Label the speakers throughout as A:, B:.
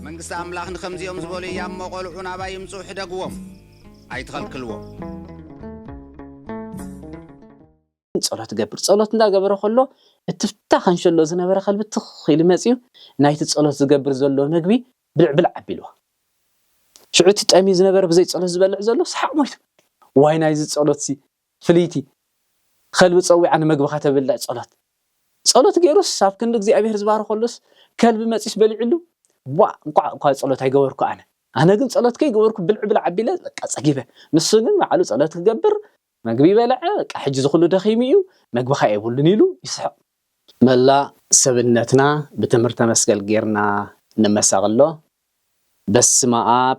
A: መንግስቲ ኣምላኽ ንኸምዚኦም ዝበሉ እያ እሞ ቈልዑ ናባ ይምፁ ሕደግዎም ኣይትኸልክልዎ
B: ጸሎት ገብር ጸሎት እንዳገበረ ከሎ እትፍታ ከንሸሎ ዝነበረ ከልቢ ትኽ ኢሉ መፅዩ ናይቲ ጸሎት ዝገብር ዘሎ መግቢ ብልዕብልዕ ኣቢልዎ ሽዑ እቲ ጠምዩ ዝነበረ ብዘይ ጸሎት ዝበልዕ ዘሎ ሰሓቕ ሞይቱ ዋይ ናይዚ ጸሎትሲ ፍልይቲ ኸልቢ ጸዊዓ ንመግብኻ ተብልዕ ጸሎት ጸሎት ጌሩስ ኣብ ክንዲ እግዚኣብሄር ዝባርኸሉስ ከልቢ መጺዩስ በሊዑሉ ቧእ እንቋዕ እኳ ጸሎት ኣይገበርኩ ኣነ ኣነ ግን ጸሎት ከይገበርኩ ብልዕ ብልዕ ኣቢለ በቃ ጸጊበ ንሱ ግን ባዕሉ ጸሎት ክገብር መግቢ በልዐ በቃ ሕጂ እዚ ኩሉ ደኺሙ እዩ መግብኻ የብሉን ኢሉ ይስሕቕ መላእ ሰብነትና ብትምህርተ መስቀል ጌርና ንመሰቐሎ በስመኣብ።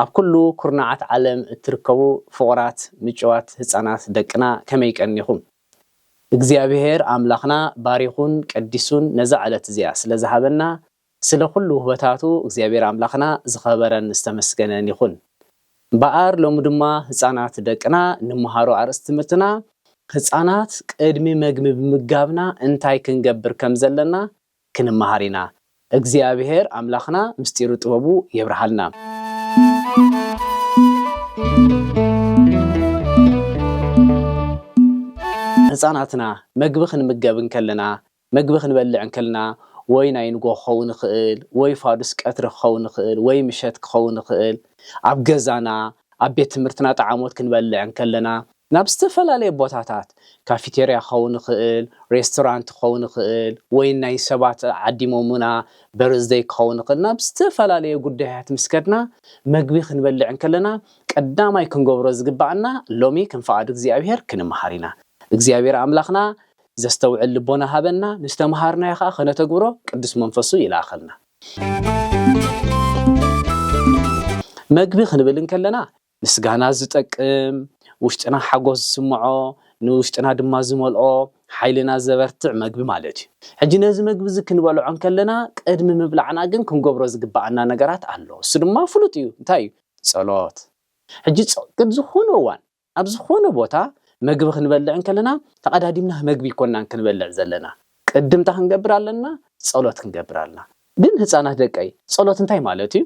B: ኣብ ኩሉ ኩርናዓት ዓለም እትርከቡ ፍቑራት ምጭዋት ህጻናት ደቅና ከመይ ቀኒኹም? እግዚኣብሄር ኣምላኽና ባሪኹን ቀዲሱን ነዛ ዕለት እዚኣ ስለ ዝሃበና ስለ ኩሉ ውህበታቱ እግዚኣብሄር ኣምላኽና ዝኸበረን ዝተመስገነን ይኹን። እምበኣር ሎሚ ድማ ህጻናት ደቅና ንመሃሮ ኣርእስቲ ትምህርትና ህጻናት ቅድሚ መግቢ ምምጋብና እንታይ ክንገብር ከም ዘለና ክንመሃር ኢና እግዚኣብሔር ኣምላክና ምስጢሩ ጥበቡ የብርሃልና። ህጻናትና መግቢ ክንምገብ እንከለና መግቢ ክንበልዕ እንከልና ወይ ናይ ንጎ ክኸውን ይኽእል ወይ ፋዱስ ቀትሪ ክኸውን ይኽእል ወይ ምሸት ክኸውን ይኽእል ኣብ ገዛና ኣብ ቤት ትምህርትና ጠዓሞት ክንበልዕ እንከለና ናብ ዝተፈላለየ ቦታታት፣ ካፊቴርያ ክኸውን ይኽእል፣ ሬስቶራንት ክኸውን ይኽእል፣ ወይ ናይ ሰባት ዓዲሞሙና በርዝደይ ክኸውን ይኽእል፣ ናብ ዝተፈላለየ ጉዳያት ምስ ከድና መግቢ ክንበልዕ እንከለና ቀዳማይ ክንገብሮ ዝግብኣና ሎሚ ከም ፍቓድ እግዚኣብሄር ክንምሃር ኢና። እግዚኣብሄር ኣምላኽና ዘስተውዕል ልቦና ሃበና፣ ንዝተምሃርናዮ ከኣ ከነተግብሮ ቅዱስ መንፈሱ ይልኣኸልና። መግቢ ክንብል እንከለና ምስጋና ዝጠቅም፣ ውሽጥና ሓጎስ ዝስምዖ፣ ንውሽጥና ድማ ዝመልኦ፣ ሓይልና ዘበርትዕ መግቢ ማለት እዩ። ሕጂ ነዚ መግቢ እዚ ክንበልዖ እንከለና ቅድሚ ምብላዕና ግን ክንገብሮ ዝግብኣና ነገራት ኣሎ። እሱ ድማ ፍሉጥ እዩ። እንታይ እዩ? ጸሎት። ሕጂ ጸቅብ ዝኾነ እዋን ኣብ ዝኾነ ቦታ መግቢ ክንበልዕ እንከለና ተቀዳዲምና መግቢ ኣይኮናን ክንበልዕ ዘለና። ቅድምታ ክንገብር ኣለና ጸሎት ክንገብር ኣለና። ግን ህጻናት ደቀይ ጸሎት እንታይ ማለት እዩ?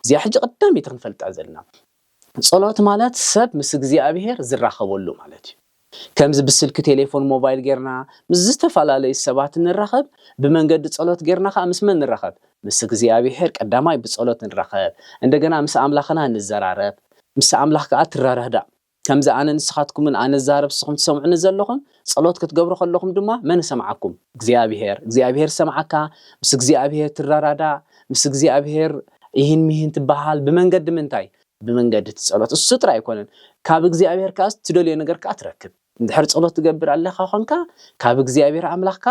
B: እዚኣ ሕጂ ቀዳመይቲ ክንፈልጣ ዘለና ጸሎት ማለት ሰብ ምስ እግዚኣብሄር ዝራኸበሉ ማለት እዩ። ከምዚ ብስልኪ ቴሌፎን ሞባይል ጌርና ምስ ዝተፈላለዩ ሰባት ንራኸብ ብመንገዲ ጸሎት ጌርና ከኣ ምስ መን ንራኸብ? ምስ እግዚኣብሄር ቀዳማይ ብጸሎት ንራኸብ እንደገና ምስ ኣምላኽና ንዘራረብ ምስ ኣምላኽ ከኣ ትረዳዳእ። ከምዚ ኣነ ንስኻትኩምን ኣነ ዝዛረብ ንስኹም ትሰምዑኒ ዘለኹም ጸሎት ክትገብሩ ከለኹም ድማ መን ይሰምዓኩም? እግዚኣብሄር። እግዚኣብሄር ዝሰምዓካ ምስ እግዚኣብሄር ትረዳዳእ፣ ምስ እግዚኣብሄር ኢሂን ሚሂን ትበሃል። ብመንገዲ ምንታይ? ብመንገዲ እቲ ጸሎት። እሱ ጥራይ ኣይኮነን ካብ እግዚኣብሄር ከኣ ትደልዮ ነገር ከኣ ትረክብ። እንድሕር ጸሎት ትገብር ኣለኻ ኮንካ ካብ እግዚኣብሄር ኣምላኽካ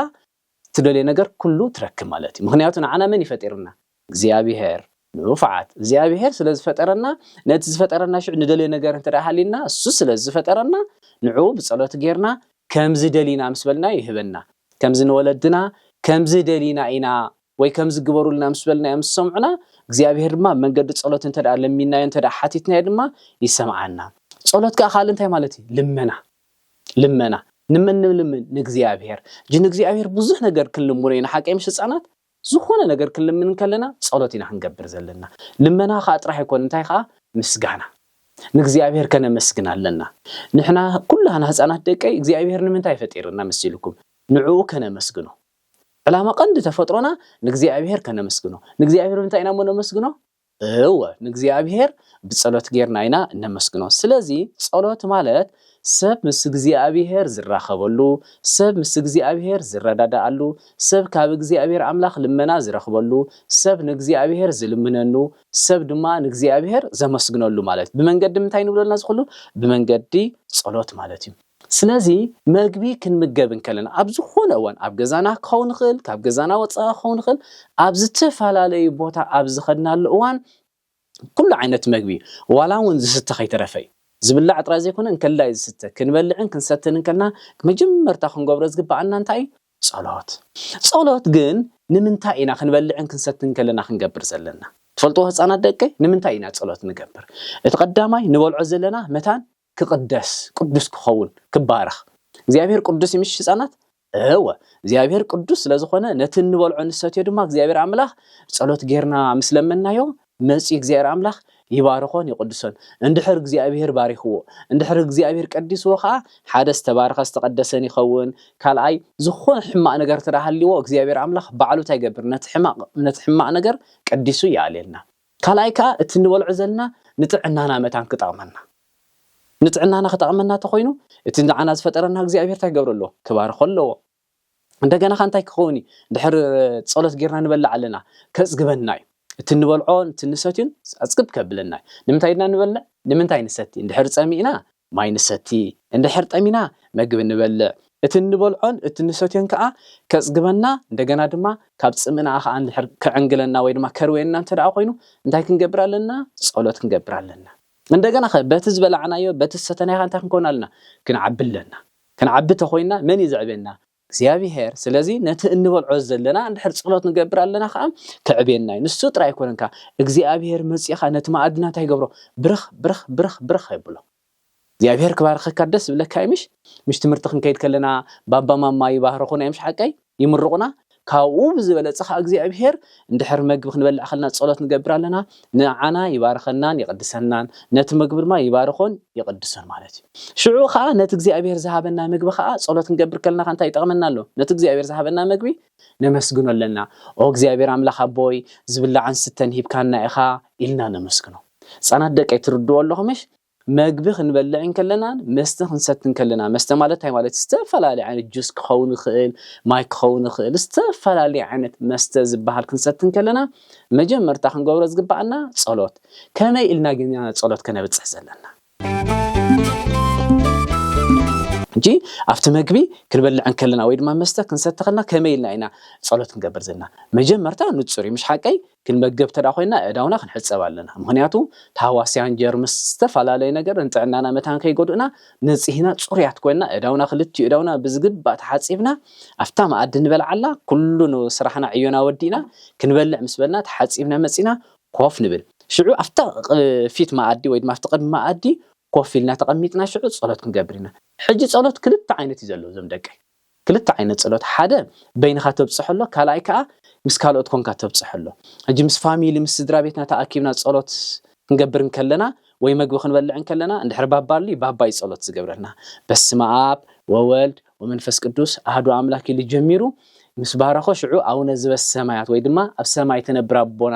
B: እትደልዮ ነገር ኩሉ ትረክብ ማለት እዩ ምኽንያቱ ንዓና መን እዩ ፈጢርና? እግዚኣብሄር። ንፉዓት እግዚኣብሄር ስለ ዝፈጠረና ነቲ ዝፈጠረና ሽዑ ንደልዮ ነገር እንተ ሃልዩና እሱ ስለ ዝፈጠረና ንዕኡ ብጸሎት ጌርና ከምዚ ደሊና ምስ በልናዮ ይህበና ከምዚ ንወለድና ከምዚ ደሊና ኢና ወይ ከምዚ ግበሩልና ምስ በልናዮም ዝሰምዑና እግዚኣብሄር ድማ ብመንገዲ ጸሎት እንተ ለሚንናዮ እንተ ሓቲትናዮ ድማ ይሰምዓና ጸሎት ከኣ ካልእ እንታይ ማለት እዩ ልመና ልመና ንመን ንልምን ንእግዚኣብሔር እጂ ንእግዚኣብሔር ብዙሕ ነገር ክንልምኖ ኢና ሓቀይ ምሽ ህፃናት ዝኾነ ነገር ክንልምን ከለና ጸሎት ኢና ክንገብር ዘለና ልመና ከዓ ጥራሕ ኣይኮን እንታይ ከዓ ምስጋና ንእግዚኣብሔር ከነመስግን ኣለና ንሕና ኩላና ህፃናት ደቀይ እግዚኣብሔር ንምንታይ ፈጢርና መሲልኩም ንዕኡ ከነመስግኖ ዕላማ ቀንዲ ተፈጥሮና ንእግዚኣብሔር ከነመስግኖ ንእግዚኣብሔር ምንታይ ኢና እሞ ነመስግኖ እወ ንእግዚኣብሔር ብጸሎት ጌርና ኢና እነመስግኖ። ስለዚ ጸሎት ማለት ሰብ ምስ እግዚኣብሔር ዝራኸበሉ፣ ሰብ ምስ እግዚኣብሔር ዝረዳዳኣሉ፣ ሰብ ካብ እግዚኣብሔር ኣምላኽ ልመና ዝረኽበሉ፣ ሰብ ንእግዚኣብሔር ዝልምነኑ፣ ሰብ ድማ ንእግዚኣብሔር ዘመስግነሉ ማለት ብመንገዲ ምንታይ ንብሎ ኣለና እዚ ኩሉ ብመንገዲ ጸሎት ማለት እዩ። ስለዚ መግቢ ክንምገብ እንከለና ኣብ ዝኾነ እዋን ኣብ ገዛና ክኸውን ይኽእል፣ ካብ ገዛና ወጻኢ ክኸውን ይኽእል፣ ኣብ ዝተፈላለዩ ቦታ ኣብ ዝኸድናሉ እዋን ኩሉ ዓይነት መግቢ ዋላ እውን ዝስተ ከይተረፈ እዩ። ዝብላዕ ጥራይ ዘይኮነ እንከላይ ዝስተ ክንበልዕን ክንሰትን እንከለና መጀመርታ ክንገብሮ ዝግብኣና እንታይ እዩ? ጸሎት። ጸሎት ግን ንምንታይ ኢና ክንበልዕን ክንሰትን እንከለና ክንገብር ዘለና? ትፈልጥዎ ህጻናት ደቀይ ንምንታይ ኢና ጸሎት ንገብር? እቲ ቀዳማይ ንበልዖ ዘለና መታን ክቕደስ ቅዱስ ክኸውን ክባረኽ እግዚኣብሔር ቅዱስ እዩ ምሽ ህፃናት እወ እግዚኣብሔር ቅዱስ ስለ ዝኾነ ነቲ እንበልዖ ንሰትዮ ድማ እግዚኣብሔር ኣምላኽ ጸሎት ጌርና ምስ ለመናዮ መጺኡ እግዚኣብሔር ኣምላኽ ይባርኾን ይቕድሶን እንድሕር እግዚኣብሔር ባሪኽዎ እንድሕር እግዚኣብሔር ቀዲስዎ ከዓ ሓደ ዝተባረኸ ዝተቐደሰን ይኸውን ካልኣይ ዝኾነ ሕማቕ ነገር ተዳሃልዎ እግዚኣብሔር ኣምላኽ ባዕሉ እንታይ ይገብር ነቲ ሕማቕ ነቲ ሕማቕ ነገር ቀዲሱ ይኣልየልና ካልኣይ ከኣ እቲ ንበልዖ ዘልና ንጥዕናና መታን ክጠቅመና ንጥዕናና ክጠቅመና ተኮይኑ እቲ ንዓና ዝፈጠረና እግዚኣብሄር ታይ ክገብር ኣለዎ ክባርኮ ኣለዎ እንደገና ከኣ እንታይ ክከውን እዩ ድሕር ጸሎት ጌርና ንበልዕ ኣለና ከጽግበና እዩ እቲ ንበልዖ እቲ ንሰትዩን ጸጽግብ ከብለና እዩ ንምንታይ ድና ንበልዕ ንምንታይ ንሰቲ ድሕር ጸሚእና ማይ ንሰቲ፣ እንድሕር ጠሚና መግቢ ንበልዕ፣ እቲ እንበልዖን እቲ እንሰትዮን ከኣ ከጽግበና እንደገና ድማ ካብ ጽምእና ከኣ እንድሕር ክዕንግለና ወይ ድማ ከርውየና እንተደኣ ኮይኑ እንታይ ክንገብር ኣለና ጸሎት ክንገብር ኣለና። እንደገናኸ በቲ ዝበላዕናዮ በቲ ዝሰተናዮኸ እንታይ ክንከውን ኣለና ክንዓቢ ኣለና። ክንዓቢ ተኾይንና መን እዩ ዘዕብየና? እግዚኣብሄር ስለዚ ነቲ እንበልዖ ዘለና እንድሕር ጸሎት ንገብር ኣለና ከኣ ክዕብየና እዩ ንሱ ጥራይ ኣይኮነን ከኣ እግዚኣብሄር መጺኡ ከኣ ነቲ መኣድና እንታይ ይገብሮ ብርኽ ብርኽ ብርኽ ብርኽ የብሎ እግዚኣብሄር ክባርኸካ ደስ ዝብለካ እዩ ምሽ ምሽ ትምህርቲ ክንከይድ ከለና ባባ ማማ ይባርኹና እዮም ሓቀይ ይምርቑና ካብኡ ብዝበለጸ ከኣ እግዚኣብሄር እንድሕር መግቢ ክንበልዕ ከለና ጸሎት ንገብር ኣለና ንዓና ይባርኸናን ይቕድሰናን፣ ነቲ ምግቢ ድማ ይባርኾን ይቕድሶን ማለት እዩ። ሽዑ ኸኣ ነቲ እግዚኣብሄር ዝሃበና ምግቢ ኸኣ ጸሎት ክንገብር ከለና ኸኣ እንታይ ይጠቕመና ኣሎ? ነቲ እግዚኣብሄር ዝሃበና ምግቢ ነመስግኖ ኣለና። ኦ እግዚኣብሄር ኣምላኽ ኣቦይ ዝብላዕን ስተን ሂብካና ኢኻ ኢልና ነመስግኖ። ህጻናት ደቀይ ትርድኡ ኣለኹምሽ? መግቢ ክንበልዕ እንከለናን መስተ ክንሰቲ እንከለና፣ መስተ ማለት እንታይ ማለት እዩ? ዝተፈላለየ ዓይነት ጁስ ክኸውን ይኽእል፣ ማይ ክኸውን ይኽእል፣ ዝተፈላለየ ዓይነት መስተ ዝበሃል ክንሰቲ እንከለና መጀመርታ ክንገብሮ ዝግበኣና ጸሎት። ከመይ ኢልና ግን ኢና ጸሎት ከነብጽሕ ዘለና? ሕጂ ኣብቲ መግቢ ክንበልዕ እንከለና ወይ ድማ መስተ ክንሰቲ ከለና ከመይ ኢልና ኢና ጸሎት ክንገብር ዘለና? መጀመርታ ንጹር እዩ ምሽ ሓቀይ? ክንመገብ እንተ ኮይና ኣእዳውና ክንሕጸብ ኣለና ምኽንያቱ ታህዋስያን ጀርምስ ዝተፋላለየ ነገር ንጥዕናና መታን ከይጎድኡና ንጽሂና ጽሩያት ኮይና ኣእዳውና ክልቲኡ ኣእዳውና ብዝግባእ ተሓጺብና ኣብታ መኣዲ ንበልዓላ ኩሉ ስራሕና ዕዮና ወዲእና ክንበልዕ ምስ በልና ተሓጺብና መጺና ኮፍ ንብል ሽዑ ኣብታ ፊት መኣዲ ወይ ድማ ኣብቲ ቅድሚ መኣዲ ኮፍ ኢልና ተቀሚጥና ሽዑ ጸሎት ክንገብር ኢና ሕጂ ጸሎት ክልተ ዓይነት እዩ ዘሎ እዞም ደቀይ። ክልተ ዓይነት ጸሎት ሓደ በይንኻ ተብጽሖ ኣሎ ካልኣይ ከኣ ምስ ካልኦት ኮንካ ተብጽሖ ኣሎ ሕጂ ምስ ፋሚሊ ምስ ስድራቤትና ተኣኪብና ጸሎት ክንገብር እንከለና ወይ መግቢ ክንበልዕ እንከለና እንድሕር ባባ ኣሉይ ባባ እዩ ጸሎት ዝገብረልና በስመኣብ ወወልድ ወመንፈስ ቅዱስ ኣህዱ ኣምላክ ኢሉ ጀሚሩ ምስ ባረኾ ሽዑ ኣውነ ዝበሰማያት ወይ ድማ ኣብ ሰማይ ትነብር ኣቦና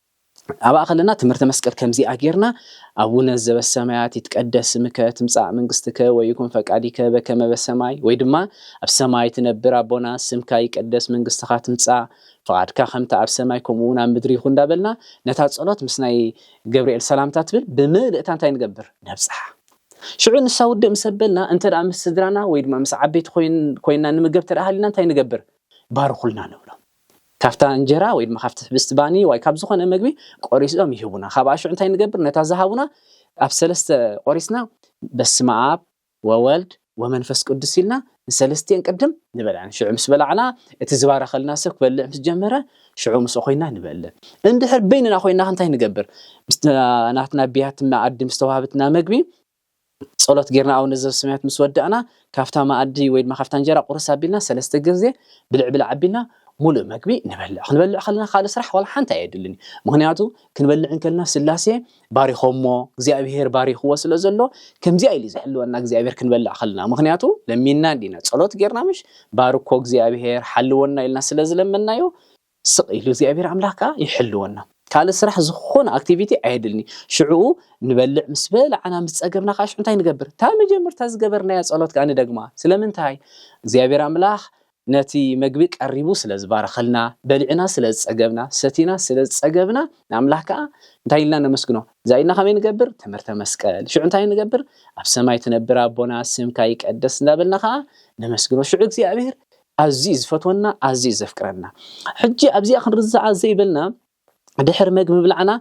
B: ኣብኣ ከለና ትምህርተ መስቀል ከምዚኣ ጌርና ኣቡነ ዘበሰማያት ይትቀደስ ስምከ ትምጻእ መንግስትከ ወይኩን ፈቃዲከ በከመ በሰማይ ወይ ድማ ኣብ ሰማይ ትነብር ኣቦና ስምካ ይቀደስ መንግስትኻ ትምጻእ ፍቓድካ ከምቲ ኣብ ሰማይ ከምኡ እውን ኣብ ምድሪ ይኹን እንዳበልና ነታ ጸሎት ምስ ናይ ገብርኤል ሰላምታ ትብል ብምልእታ እንታይ ንገብር ነብጽሓ ሽዑ ንሳ ውድእ ምስ ኣበልና እንተ ምስ ስድራና ወይ ድማ ምስ ዓበይቲ ኮይንና ንምገብ ተደኣ ሃሊና እንታይ ንገብር ባርኹልና ንብሎም ካብታ እንጀራ ወይ ድማ ካብቲ ሕብስቲ ባኒ ዋይ ካብ ዝኾነ መግቢ ቆሪሶም ይህቡና ካብኣ ሽዑ እንታይ ንገብር ነታ ዝሃቡና ኣብ ሰለስተ ቆሪስና በስመኣብ ወወልድ ወመንፈስ ቅዱስ ኢልና ንሰለስቲኤን ቅድም ንበልዐን ሽዑ ምስ በላዕና እቲ ዝባረኸልና ሰብ ክበልዕ ምስ ጀመረ ሽዑ ምስኡ ኮይና ንበልዕ እንድሕር በይንና ኮይና እንታይ ንገብር ምስታ ናትና ብያቲ መኣዲ ምስ ተዋህበትና መግቢ ጸሎት ጌርና ኣቡነ ዘበሰማያት ምስ ወዳእና ካብታ መኣዲ ወይ ድማ ካብታ እንጀራ ቁርስ ኣቢልና ሰለስተ ግዜ ብልዕ ብልዕ ኣቢልና ሙሉእ መግቢ ንበልዕ ክንበልዕ ከለና ካልእ ስራሕ ዋላ ሓንቲ ኣየድልን ምክንያቱ ክንበልዕ እንከልና ስላሴ ባሪኾሞ እግዚኣብሄር ባሪኽዎ ስለ ዘሎ ከምዚኣ ኢሉ ዝሕልወና እግዚኣብሄር ክንበልዕ ከለና ምክንያቱ ለሚንና እንዲና ጸሎት ጌርና ምሽ ባርኮ እግዚኣብሄር ሓልወና ኢልና ስለ ዝለመናዮ ስቕ ኢሉ እግዚኣብሔር ኣምላኽ ከኣ ይሕልወና። ካልእ ስራሕ ዝኾነ ኣክቲቪቲ ኣየድልንዩ ሽዑኡ ንበልዕ ምስ በላዕና ምስ ጸገብና ከኣ ሽዑ እንታይ ንገብር እታ መጀመርታ ዝገበርናያ ጸሎት ከኣ ንደግማ ስለምንታይ እግዚኣብሔር ኣምላኽ ነቲ መግቢ ቀሪቡ ስለ ዝባረኸልና በሊዕና ስለ ዝጸገብና ሰቲና ስለ ዝጸገብና ንኣምላኽ ከኣ እንታይ ኢልና ነመስግኖ እዛ ኢድና ከመይ ንገብር ትምህርተ መስቀል ሽዑ እንታይ ንገብር ኣብ ሰማይ ትነብር ኣቦና ስምካ ይቀደስ እንዳበልና ከኣ ነመስግኖ ሽዑ እግዚኣብሔር ኣዝዩ ዝፈትወና ኣዝዩ ዘፍቅረና ሕጂ ኣብዚኣ ክንርዛዓ ዘይበልና ድሕሪ መግቢ ምብላዕና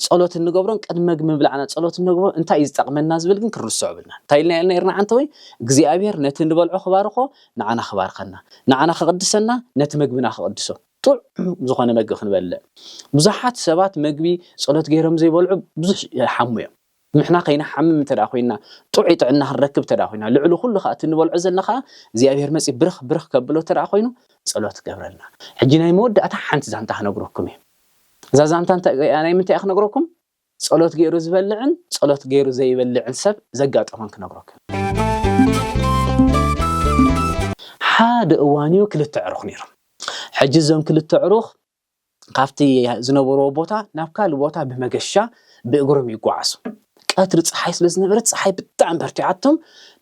B: ጸሎት እንገብሮን ቅድሚ መግቢ ምብላዕና ጸሎት እንገብሮ እንታይ እዩ ዝጠቕመና ዝብል ግን ክንርስዖ ብልና እንታይ ኢልና ኢልና ይርና ዓንተ ወይ እግዚኣብሔር ነቲ ንበልዖ ክባርኾ ንዓና ክባርኸና ንዓና ክቕድሰና ነቲ መግብና ክቕድሶ ጥዑም ዝኾነ መግቢ ክንበልዕ ብዙሓት ሰባት መግቢ ጸሎት ገይሮም ዘይበልዑ ብዙሕ ይሓሙ እዮም ንሕና ከይንሓምም እንተ ደኣ ኰይንና፣ ጥዑይ ጥዕና ክንረክብ እንተ ደኣ ኰይንና፣ ልዕሊ ዅሉ ኸኣ እቲ እንበልዖ ዘልና ኸኣ እግዚኣብሄር መጺኡ ብርኽ ብርኽ ከብሎ እንተ ደኣ ዀይኑ ጸሎት ገብረልና። ሕጂ ናይ መወዳእታ ሓንቲ ዛንታ ክነግረኩም እየ። እዛ ዛንታ እንታይ እያ ናይ ምንታይ እየ ክነግረኩም ጸሎት ገይሩ ዝበልዕን ጸሎት ገይሩ ዘይበልዕን ሰብ ዘጋጠሞን ክነግረኩም እየ። ሓደ እዋን እዩ ክልተ ኣዕሩኽ ነይሮም። ሕጂ እዞም ክልተ ኣዕሩኽ ካብቲ ዝነበርዎ ቦታ ናብ ካልእ ቦታ ብመገሻ ብእግሮም ይጓዓዙ። ቀትሪ ጸሓይ ስለ ዝነበረት ጸሓይ ብጣዕሚ በርቲዓቶም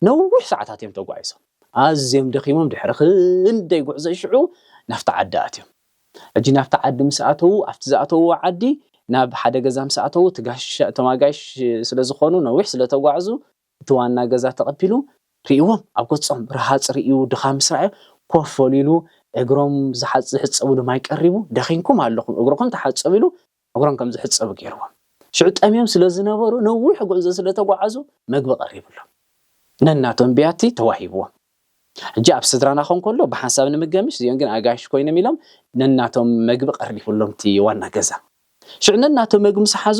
B: ነዊሕ ሰዓታት እዮም ተጓዒዞም። ኣዝዮም ደኺሞም ድሕሪ ክንደይ ጉዕዞ ሽዑ ናብቲ ዓዲ ኣትዮም። ሕጂ ናብቲ ዓዲ ምስ ኣተዉ ኣብቲ ዝኣተዉዎ ዓዲ ናብ ሓደ ገዛ ምስ ኣተዉ እቲ ጋሻ እቶም ኣጋይሽ ስለ ዝኾኑ ነዊሕ ስለ ተጓዕዙ እቲ ዋና ገዛ ተቐቢሉ ርእይዎም፣ ኣብ ገጾም ረሃጽ ርእዩ ድኻም ምስ ረኣዮ ኮፍ በሉ ኢሉ እግሮም ዝሕጸብሉ ማይ ቀሪቡ፣ ደኺምኩም ኣለኹም እግርኹም ተሓጸቡ ኢሉ እግሮም ከም ዝሕጸቡ ገይርዎም። ሽዑ ጠምዮም ስለ ዝነበሩ ነዊሕ ጉዕዞ ስለ ተጓዓዙ መግቢ ቀሪብሎም ነናቶም ብያቲ ተዋሂብዎም። ሕጂ ኣብ ስድራና ክኸውን ከሎ ብሓንሳብ ንምገምሽ እዚኦም ግን ኣጋይሽ ኮይኖም ኢሎም ነናቶም መግቢ ቀሪብሎም'ቲ ዋና ገዛ። ሽዑ ነናቶም መግቢ ምስ ሓዙ፣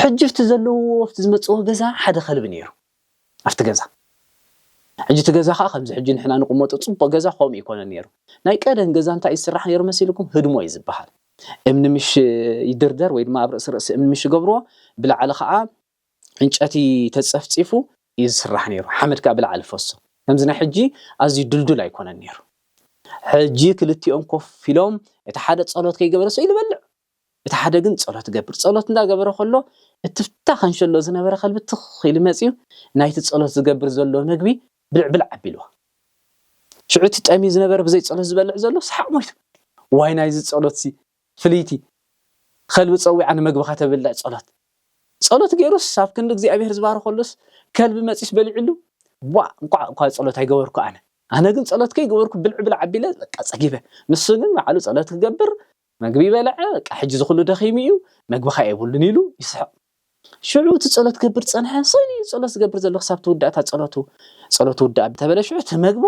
B: ሕጂ ኣብቲ ዘለውዎ ኣብቲ ዝመጽዎ ገዛ ሓደ ከልቢ ነይሩ ኣብቲ ገዛ ሕጂ እቲ ገዛ ከኣ ከምዚ ሕጂ ንሕና ንቕመጦ ጽቡቕ ገዛ ከምኡ ኣይኮነን ነይሩ ናይ ቀደም ገዛ እንታይ ይስራሕ ነይሩ መሲልኩም ህድሞ እዩ ዝበሃል እምኒ ምሽ ይድርደር ወይ ድማ ኣብ ርእሲ ርእሲ እምኒ ምሽ ይገብርዎ ብላዕሊ ከኣ ዕንጨቲ ተጸፍጺፉ እዩ ዝስራሕ ነይሩ ሓመድ ከኣ ብላዕሊ ፈሶ ከምዚ ናይ ሕጂ ኣዝዩ ድልዱል ኣይኮነን ነይሩ ሕጂ ክልቲኦም ኮፍ ኢሎም እቲ ሓደ ጸሎት ከይገበረሰ ኢሉ በልዕ እቲ ሓደ ግን ጸሎት ይገብር። ጸሎት እንዳ ገበረ ከሎ እቲ ብታ ከንሸሎ ዝነበረ ከልቢ ትኽ ኢሉ መጽዩ ናይቲ ጸሎት ዝገብር ዘሎ መግቢ ብልዕ ብልዕ ኣቢልዎ። ሽዑ እቲ ጠምዩ ዝነበረ ብዘይ ጸሎት ዝበልዕ ዘሎ ሰሓቕ ሞይቱ። ዋይ ናይዚ ጸሎትሲ ፍልይቲ ከልቢ ጸዊዓ ንመግብኻ ተብልዕ ጸሎት። ጸሎት ጌሩስ ኣብ ክንዲ እግዚኣብሄር ዝባርኸሉስ ከልቢ መጽዩስ በሊዑሉ። ዋእ እንቋዕ እኳ ጸሎት ኣይገበርኩ ኣነ። ኣነ ግን ጸሎት ከይገበርኩ ብልዕ ብልዕ ኣቢለ በቃ ጸጊበ። ንሱ ግን ባዕሉ ጸሎት ክገብር መግቢ በልዐ፣ በቃ ሕጂ እዚ ዅሉ ደኺሙ እዩ፣ መግብኻ የብሉን ኢሉ ይስሕቕ። ሽዑ እቲ ጸሎት ክገብር ዝጸንሐ ሰብ እዩ ጸሎት ዝገብር ዘሎ ክሳብ ትውዳእታ ጸሎቱ ጸሎቱ ውዳእ እንተበለ ሽዑ እቲ መግቡ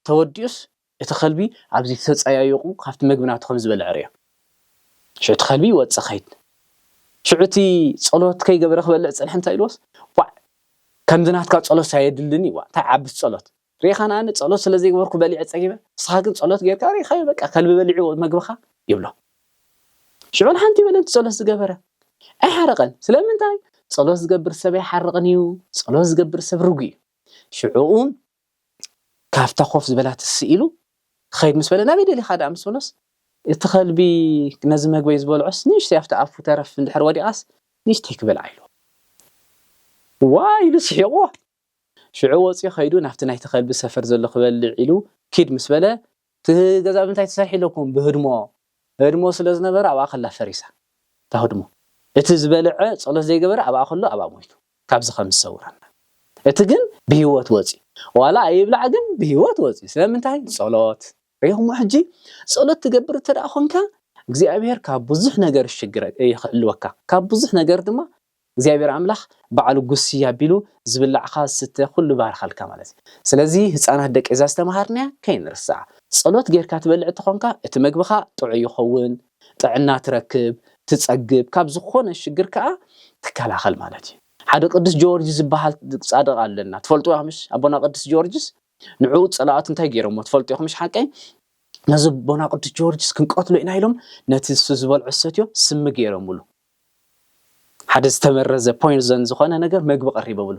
B: ተወዲኡስ እቲ ከልቢ ኣብዚ ተጸያዩቑ ካብቲ መግቢ ናቱ ከም ዝበልዐ ርእዮ ሽዑ እቲ ከልቢ ይወጽእ ኸይድ ሽዑ እቲ ጸሎት ከይገበረ ክበልዕ ዝጸንሐ እንታይ ኢልዎስ ዋዕ ከምዚ ናትካ ጸሎት ኣየድልን እዩ ዋዕ እንታይ ዓብስ ጸሎት ሪኢኻ ንኣብነት ጸሎት ስለ ዘይገበርኩ በሊዐ ጸጊበ ንስኻ ግን ጸሎት ጌርካ ሪኢኻዮ በቃ ከልቢ በሊዑ መግብኻ ይብሎ ሽዑ ንሓንቲ በለንቲ ጸሎት ዝገበረ ኣይሓረቐን ስለምንታይ ጸሎት ዝገብር ሰብ ኣይሓርቕን እዩ ጸሎት ዝገብር ሰብ ርጉ እዩ ሽዑኡ ካብታ ኮፍ ዝበላ ትስኢሉ ክኸይድ ምስ በለ ናበይ ደሊኻ ደኣ ምስ በሎስ እቲ ከልቢ ነዚ መግበይ ዝበልዖስ ንእሽተይ ኣብቲ ኣፉ ተረፍ እንድሕር ወዲቓስ ንእሽተይ ክበልዓ ኢሉ ዋ ኢሉ ስሒቑዎ ሽዑ ወጺኡ ከይዱ ናብቲ ናይቲ ከልቢ ሰፈር ዘሎ ክበልዕ ኢሉ ኪድ ምስ በለ፣ እቲ ገዛ ብምንታይ ተሰሪሑ ኢለኩም ብህድሞ ህድሞ ስለ ዝነበረ ኣብኣ ከላ ፈሪሳ እታ ህድሞ እቲ ዝበልዐ ጸሎት ዘይገበረ ኣብኣ ከሎ ኣብኣ ሞይቱ ካብዚ ከም ዝሰውረና እቲ ግን ብሂወት ወጺኡ ዋላ ኣይብላዕ ግን ብሂወት ወጺኡ ስለምንታይ ንጸሎት ሪኢኹሞ ሕጂ ጸሎት ትገብር እንተ ኮንካ እግዚኣብሄር ካብ ብዙሕ ነገር ይሽግረ ይክሕልወካ ካብ ብዙሕ ነገር ድማ እግዚኣብሔር ኣምላክ ባዕሉ ጉስይ ኣቢሉ ዝብላዕካ ዝስተ ኩሉ ባርካልካ ማለት እዩ ስለዚ ህፃናት ደቂ እዛ ዝተምሃርናያ ከይንርስዓ ፀሎት ገይርካ ትበልዕ እተኮንካ እቲ መግብካ ጥዑይ ይኮውን ጥዕና ትረክብ ትፀግብ ካብ ዝኮነ ሽግር ካዓ ትከላከል ማለት እዩ ሓደ ቅዱስ ጀወርጅስ ዝባሃል ፃድቅ ኣለና ትፈልጥዋ ምሽ ኣቦና ቅዱስ ጀወርጅስ ንዑ ጸላኣት እንታይ ገይሮሞ ትፈልጡ ኢኹምሽ ሓቀይ ነዚ ቦና ቅዱስ ጆርጅስ ክንቀትሎ ኢና ኢሎም ነቲ እሱ ዝበልዖ ዝሰትዮ ስሚ ገይሮምሉ ሓደ ዝተመረዘ ፖይንዘን ዝኾነ ነገር መግቢ ቀሪቦምሉ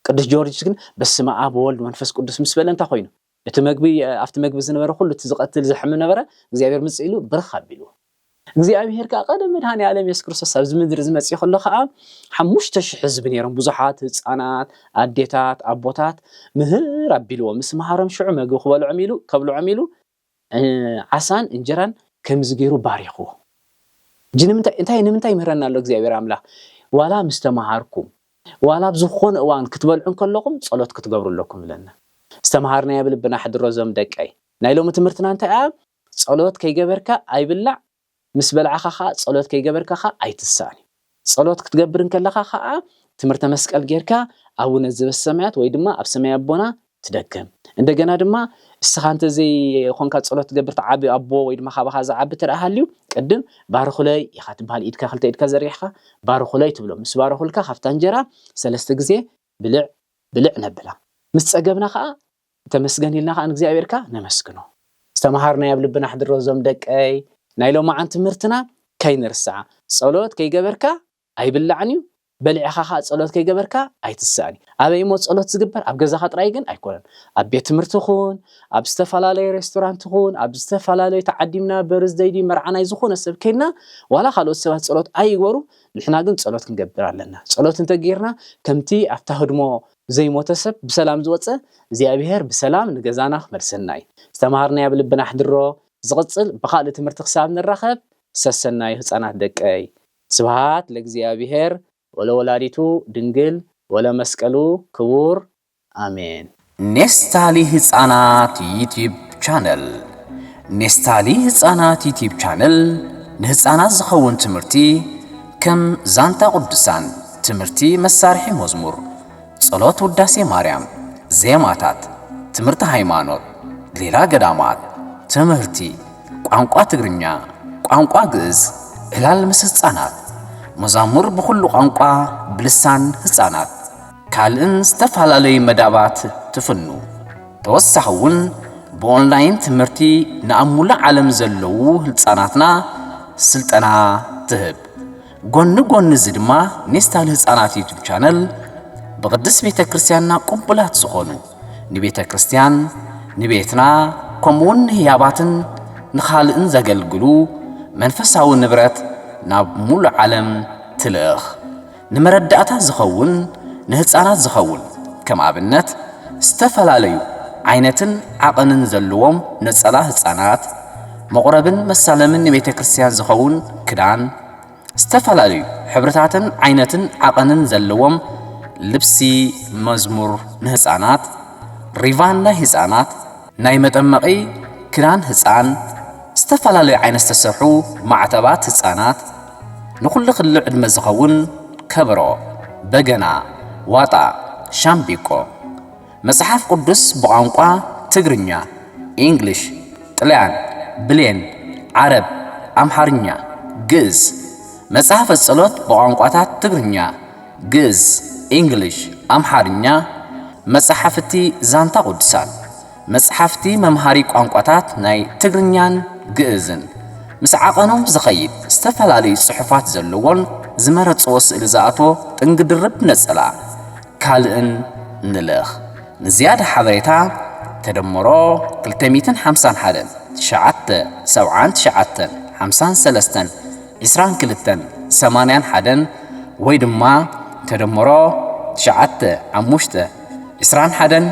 B: ቅዱስ ጆርጅስ ግን በስመ ኣብ ወልድ መንፈስ ቅዱስ ምስ በለ እንታይ ኮይኑ እቲ መግቢ ኣብቲ መግቢ ዝነበረ ኩሉ እቲ ዝቐትል ዘሕምም ነበረ እግዚኣብሔር ምጽእ ኢሉ ብርኽ ኣቢልዎ እግዚኣብሄር ከኣ ቀደም መድሃኔኣለም የሱስ ክርስቶስ ኣብዚ ምድሪ እዚ መጺኡ ከሎ ከኣ ሓሙሽተ ሽሕ ህዝቢ ነይሮም ብዙሓት ህጻናት ኣዴታት ኣቦታት ምህር ኣቢልዎ ምስ መሃሮም ሽዑ መግቢ ክበልዖም ኢሉ ከብልዖም ኢሉ ዓሳን እንጀራን ከምዚ ገይሩ ባሪኽዎ እጂ ንምንታይ እንታይ ንምንታይ ይምህረና ኣሎ እግዚኣብሄር ኣምላኽ ዋላ ምስ ተመሃርኩም ዋላ ኣብ ዝኾነ እዋን ክትበልዑ ከለኹም ጸሎት ክትገብሩ ኣለኩም ብለና ዝተምሃርናዮ ብልብና ሕድሮ ዞም ደቀይ ናይ ሎሚ ትምህርትና እንታይ እያ ጸሎት ከይገበርካ ኣይብላዕ ምስ በላዕካ ከኣ ጸሎት ከይገበርካ ከኣ ኣይትሳእን እዩ ጸሎት ክትገብር እንከለካ ከኣ ትምህርተ መስቀል ጌርካ ኣቡነ ዘበሰማያት ወይ ድማ ኣብ ሰማይ ኣቦና ትደግም እንደገና ድማ እስኻ እንተዘይኮንካ ጸሎት ትገብር ትዓቢ ኣቦ ወይ ድማ ካባኻ ዝዓቢ ተደኣ ሃልዩ ቅድም ባርኹለይ ኢኻ ትበሃል ኢድካ ክልተ ኢድካ ዘርጊሕካ ባርኹለይ ትብሎ ምስ ባረኹልካ ካብታ እንጀራ ሰለስተ ግዜ ብልዕ ብልዕ ነብላ ምስ ጸገብና ከኣ ተመስገን ኢልና ከኣ ንእግዚኣብሔርካ ነመስግኖ ዝተምሃርናዮ ኣብ ልብና ኣሕድሮ እዞም ደቀይ ናይ ሎማዓን ትምህርትና ከይንርስዓ ጸሎት ከይገበርካ ኣይብላዕን እዩ በሊዕኻ ከኣ ጸሎት ከይገበርካ ኣይትስእን እዩ ኣበይ እሞ ጸሎት ዝግበር ኣብ ገዛኻ ጥራይ ግን ኣይኮነን ኣብ ቤት ትምህርቲ ኹን ኣብ ዝተፈላለዩ ሬስቶራንት ኹን ኣብ ዝተፈላለዩ ተዓዲምና በርዝደይ ድዩ መርዓ ናይ ዝኾነ ሰብ ከይድና ዋላ ካልኦት ሰባት ጸሎት ኣይግበሩ ንሕና ግን ጸሎት ክንገብር ኣለና ጸሎት እንተጌርና ከምቲ ኣብታ ህድሞ ዘይሞተ ሰብ ብሰላም ዝወጸ እግዚኣብሔር ብሰላም ንገዛና ክመልሰና እዩ ዝተምሃርናዮ ኣብ ልብና ኣሕድሮ ዝቅጽል ብካልእ ትምህርቲ ክሳብ ንራከብ ሰሰናዩ ህጻናት ደቀይ ስብሃት ለእግዚኣብሔር ወለወላዲቱ ድንግል ወለመስቀሉ ክቡር ኣሜን። ኔስታሊ ህጻናት ዩቲብ ቻነል ኔስታሊ ህጻናት ዩቲብ ቻነል ንህጻናት ዝኸውን ትምህርቲ፣ ከም ዛንታ ቅዱሳን፣ ትምህርቲ መሳርሒ መዝሙር፣ ጸሎት ውዳሴ ማርያም፣ ዜማታት፣ ትምህርቲ ሃይማኖት፣ ሌላ ገዳማት፣ ትምህርቲ፣ ቋንቋ ትግርኛ፣ ቋንቋ ግእዝ፣ ዕላል ምስ ህጻናት፣ መዛሙር ብኹሉ ቋንቋ ብልሳን ህጻናት፣ ካልእን ዝተፈላለዩ መዳባት ትፍኑ። ተወሳኺ እውን ብኦንላይን ትምህርቲ ንኣብ ሙሉእ ዓለም ዘለዉ ህልፃናትና ስልጠና ትህብ። ጎኒ ጎኒ እዚ ድማ ኔስታል ህፃናት ዩቱብ ቻነል ብቅድስት ቤተ ክርስቲያንና ቅቡላት ዝኾኑ ንቤተ ክርስቲያን ንቤትና ከምኡውን ንህያባትን ንኻልእን ዘገልግሉ መንፈሳዊ ንብረት ናብ ሙሉእ ዓለም ትልእኽ። ንመረዳእታ ዝኸውን ንህጻናት ዝኸውን ከም ኣብነት ዝተፈላለዩ ዓይነትን ዓቐንን ዘለዎም ነጸላ ህጻናት፣ መቑረብን መሳለምን ንቤተ ክርስቲያን ዝኸውን ክዳን፣ ዝተፈላለዩ ሕብርታትን ዓይነትን ዓቐንን ዘለዎም ልብሲ መዝሙር ንህጻናት፣ ሪቫን ናይ ህጻናት፣ ናይ መጠመቒ ክዳን ህጻን፣ ዝተፈላለዩ ዓይነት ዝተሰርሑ ማዕተባት ህጻናት፣ ንኹሉ ክሊ ዕድመ ዝኸውን ከበሮ፣ በገና፣ ዋጣ፣ ሻምቢቆ። መጽሓፍ ቅዱስ ብቛንቋ ትግርኛ፣ ኢንግሊሽ፣ ጥልያን፣ ብሌን፣ ዓረብ፣ ኣምሓርኛ፣ ግእዝ። መጽሐፈ ጸሎት ብቛንቋታት ትግርኛ፣ ግእዝ፣ ኢንግሊሽ፣ ኣምሓርኛ። መጻሕፍቲ ዛንታ ቅዱሳን። መጽሓፍቲ መምሃሪ ቋንቋታት ናይ ትግርኛን ግእዝን፣ ምስ ዓቐኑ ዝኸይድ ዝተፈላለዩ ጽሑፋት ዘለዎን ዝመረጽዎ ስእሊ ዝኣትዎ ጥንጊ ድርብ ነጸላ፣ ካልእን ንልእኽ። ንዝያዳ ሓበሬታ ተደምሮ ክልተ ሚእትን ሓምሳን ሓደን፣ ትሽዓተ፣ ሰብዓን ትሽዓተን፣ ሓምሳን ሰለስተን፣ ዕስራን ክልተን፣ ሰማንያን ሓደን ወይ ድማ ተደምሮ ትሽዓተ፣ ሓሙሽተ፣ ዕስራን ሓደን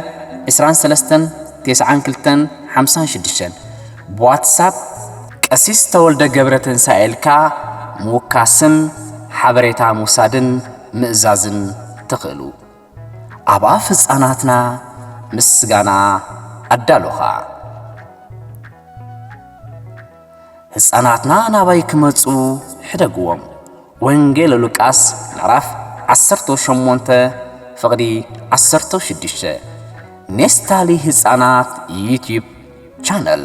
B: ዕስራን ሰለስተን ቴስዓን ክልተን ሓምሳን ሽዱሽተን ብዋትሳፕ ቀሲስ ተወልደ ገብረ ትንሣኤ ኢልካ ምውካስን ሓበሬታ ምውሳድን ምእዛዝን ትኽእሉ። ኣብ ኣፍ ህፃናትና ምስጋና ኣዳሉኻ። ህፃናትና ናባይ ክመፁ ሕደግዎም። ወንጌል ሉቃስ ምዕራፍ 18 ፍቕዲ 16 ኔስታሊ ህፃናት ዩቲዩብ ቻነል